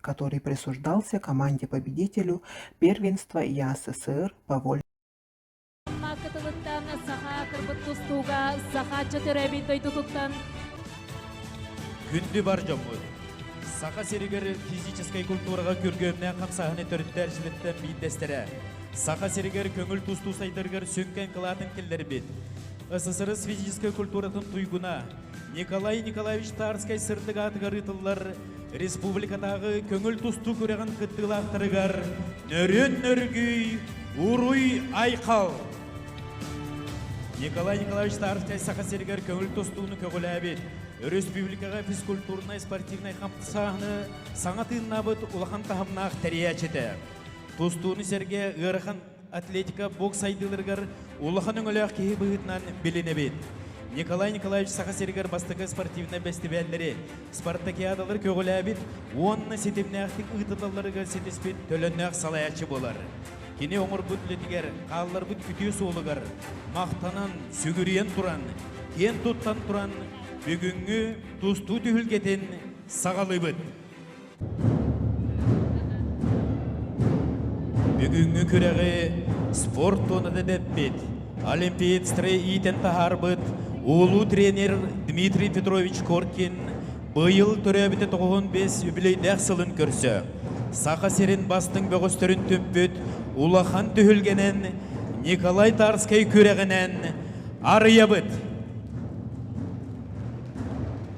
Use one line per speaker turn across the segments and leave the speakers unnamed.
который присуждался команде победителю первенства ЯССР по воле
Күндү бар дьоммут! Саха сиригэр физическэй культураҕа күргүөмнээх хамсааһыны төрүттэр жилиттэн биирдэстэрэ. Саха сиригэр көҥүл тустуу сайдарыгар сүҥкэн кылаатын киллэрбит СССР физическэй культуратын туйгуна Николай Николаевич Тарскай сырдык аатыгар ыытыллар республикатааҕы көҥүл тустуук үрэҕин кыттыылаахтарыгар нөрүн нөргүй уруй айхал Николай Николаевич Старостай Саха сиригэр көҥүл тустууну көҕүлээбит республикаҕа физкультурнай спортивнай хамсааһыны саҥа тыыннаабыт улахан таһымнаах тэрийээччитэ тустууну сэргэ ыарахан атлетика бокс сайдыыларыгар улахан өҥөлөөх киһи быһыытынан билинэбит. Николай Николаевич Саха сиригэр бастакы спортивнай бэстибээллэри, спартакиадалары көҕүлээбит уонна ситимнээхтик ыытыллалларыгар ситиспит төлөннөөх салайааччы болар. Кини оҥорбут үлэтигэр, хаалларбыт үтүө суолугар махтанан, сүгүрүйэн туран, киэн туттан туран бүгүҥҥү тустуу түһүлгэтин саҕалыыбыт. Бүгүҥҥү күрэҕи спорт туонатын эппит, олимпиец иитэн таһаарбыт улуу тренер Дмитрий Петрович Коркин быйыл төрөөбүтэ тоҕуһун бес үбүлэйдээх сылын көрсө Саха сирин бастыҥ бөҕөстөрүн түмпүт улахан түһүлгэнэн Николай Тарскай күрэҕинэн арыйабыт.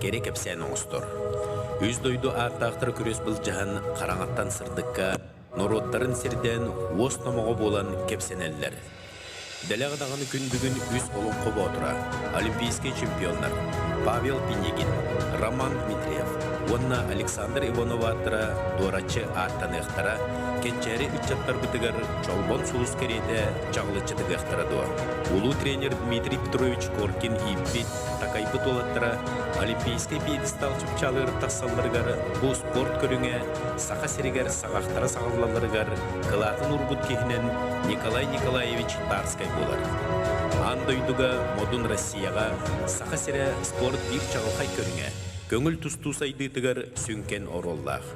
кэрэ кэпсээн оҥостор. Үс дойду ааттаахтара күрүөс былдьаһан хараҥаттан сырдыкка, норуоттарын сирдээн уос номоҕо буолан кэпсэнэллэр. Дэлэх даҕаны күн бүгүн үс Олоҥхо Боотура, олимпийскай чемпионнар Павел Пинигин, Роман Дмитриев уонна Александр Иванов-ааттара дуораччы ааттаныахтара, кэччээри ыччаттарбытыгар Чолбон сулус кэриэтэ чаҕылыччы тыгыахтара дуо? Улуу тренер Дмитрий Петрович Коркин ииппит Такайбыт уолаттара олимпийскай пьедестал чупчалыыр тахсалларыгар бу спорт көрүҥэ Саха сиригэр саҕахтара саҕыллалларыгар кылаатын уурбут киһинэн Николай Николаевич Барскай буолар. Аан дойдуга модун Россияҕа Саха сирэ спорт биир чаҕылхай көрүҥэ, көҥүл тустуу сайдыытыгар сүҥкэн оруоллаах.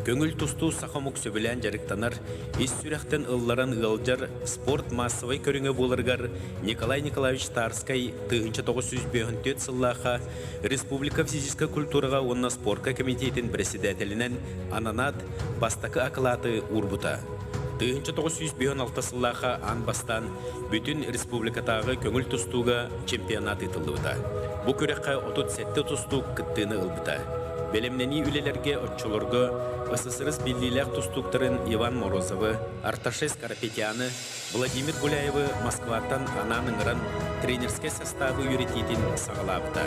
Көҥүл тустуу саха омук сөбүлээн дьарыктанар, ис сүрэхтэн ылларан ыалдьар спорт маассабай көрүҥэ буоларыгар Николай Николаевич Тарскай тыһыынча тоҕус сүүс бүөһүн сыллаахха республика физическэй культураҕа уонна спорка кэмитиэтин бэрэссэдээтэлинэн ананаат бастакы акылааты уурбута. Тыһыынча тоҕус сүүс бүөһүн алта сыллаахха аан бастаан бүтүн республикатааҕы көҥүл тустууга чемпионат ыытыллыбыта. Бу күрэххэ отут сэттэ тустуук кыттыыны ылбыта. Бэлэмнэнии үлэлэргэ оччолорго ССРС биллиилээх тустууктарын Иван Морозовы, Арташи Скоропетяны, Владимир Гуляевы Москваттан анаан ыҥыран тренерскэй састаабы үөрэтиитин саҕалаабыта.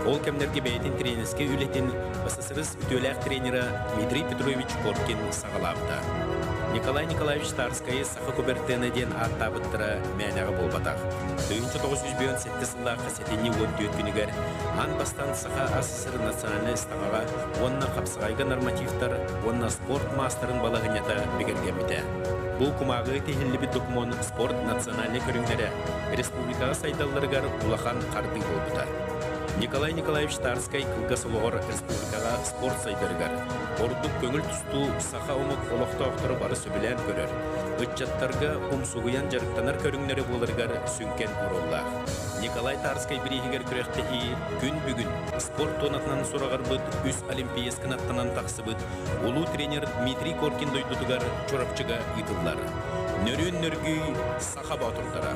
Ол кэмнэргэ бэйэтин тренерскэй үлэтин ССРС үтүөлээх тренера Дмитрий Петрович Коркин саҕалаабыта. Николай Николаевич Старскайы Саха Кубертена диэн ааттаабыттара мээнэҕэ буолбатах. Тыһыынча тоҕус сүүс бүөн сэттис сыллаахха сэтинньи уон түөрт күнүгэр аан бастаан Саха СССР национальнай ыстаҥаҕа уонна хапсаҕайга нормативтар уонна спорт маастарын балаһыанньата бигэргэммитэ. Бу кумааҕыга тиһиллибит докумуон спорт национальнай көрүҥнэрэ республикаҕа сайдалларыгар улахан хардыы буолбута. Николай Николаевич Тарскай кылгас олоҕор республикаҕа спорт сайдарыгар, ордук көҥүл тустуу Саха омук олохтоохторо бары сөбүлээн көрөр, ыччаттарга умсугуйан дьарыктанар көрүҥнэрэ буоларыгар сүҥкэн ууруллаах. Николай Тарскай бирииһигэр күрэхтэһии күн бүгүн спорт туонатынан сураҕырбыт үс олимпиец кынаттанан тахсыбыт улуу тренер Дмитрий Коркин дойдутугар Чурапчыга ыытыллар. Нөрүөн нөргүй Саха Боотурдара.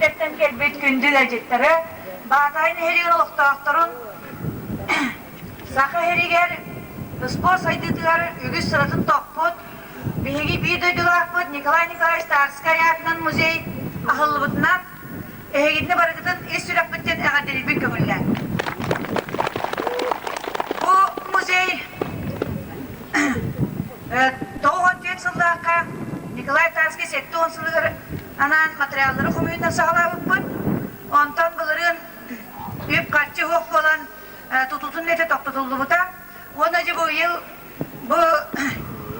Кэттэн кэлбит күндүл ыалдьыттары Баатаҕай нэһилиэгин олохтоохторун Саха иһэригэр спорт сайдыытыгар үгүс сыратын топпут, биһиги биир дойдулаахпыт Николай Николаевич Старскай аатынан музей аһыллыбытынан Эһигитини барытытын ис сүрэхпиттэн эҕэрдэлиирбин көҥүллээн. Бу музей тоҕус уон түөрт сыллаахха Николай Тарский сэттэ уон сылыгар анаан материаллары хомуйунан саҕалаабыппыт. Онтон былырыын үп-харчы суох буолан тутутун үлэтэ тохтотуллубута. Уонна дьэ бу ыйыл бу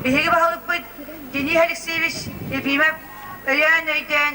биһиги баһылыкпыт Денис Алексеевич Ефимов өйөөн-өйдөөн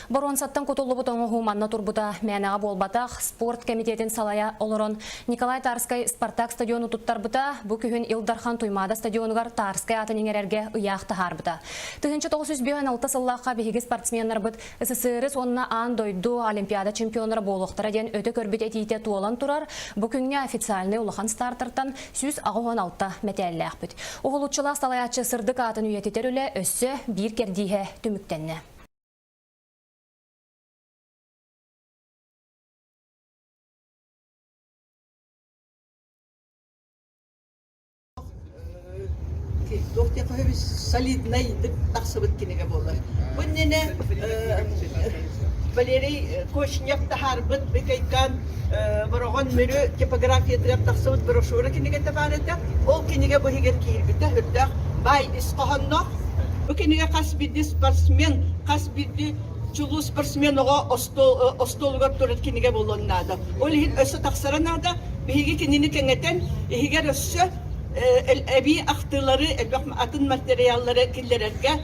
Боруонсаттан кутуллубут оҥоһуу манна турбута мээнэҕэ буолбатах. Спорт кэмитиэтин салайа олорон Николай Тарскай Спартак стадиону туттарбыта, бу күһүн Ил Дархан Туймаада стадионугар Тарскай аатын иҥэрэргэ ыйаах таһаарбыта. Тыһыынча тоҕус үс бүтүн алта сыллаахха биһиги спортсменнарбыт СССР-ыс уонна аан дойду Олимпиада чемпионнара буолуохтара диэн өтө көрбүт этиитэ туолан турар, бу күҥҥэ официальнай улахан стартертан сүүс аҕыс уон алта мэтээллээхпит. Уһулуччулаах салайааччы сырдык аатын үйэтитэр үлэ өссө биир кэрдииһэ түмүктэннэ.
Туох диэххэ солиднай дык тахсыбыт кинигэ буолар. Бу иннинэ Валерий Кошнев таһаарбыт Бекайкан Бороҕон Мүрү типографиятыгар тахсыбыт брошюра кинигэтэ баар этэ. Ол кинигэ бу иһигэр киирбитэ үрдээх баай ис хоһоонноох. Бу кинигэ хас биирдии спортсмен, хас биирдии чулуу спортсмен оҕо остуол, остуолугар турар кинигэ буолуон наада. Ол иһин өссө тахсара наада. Биһиги кинини кэҥэтэн, иһигэр өссө эбии ахтыылары, элбэх атын материаллары киллэрэргэ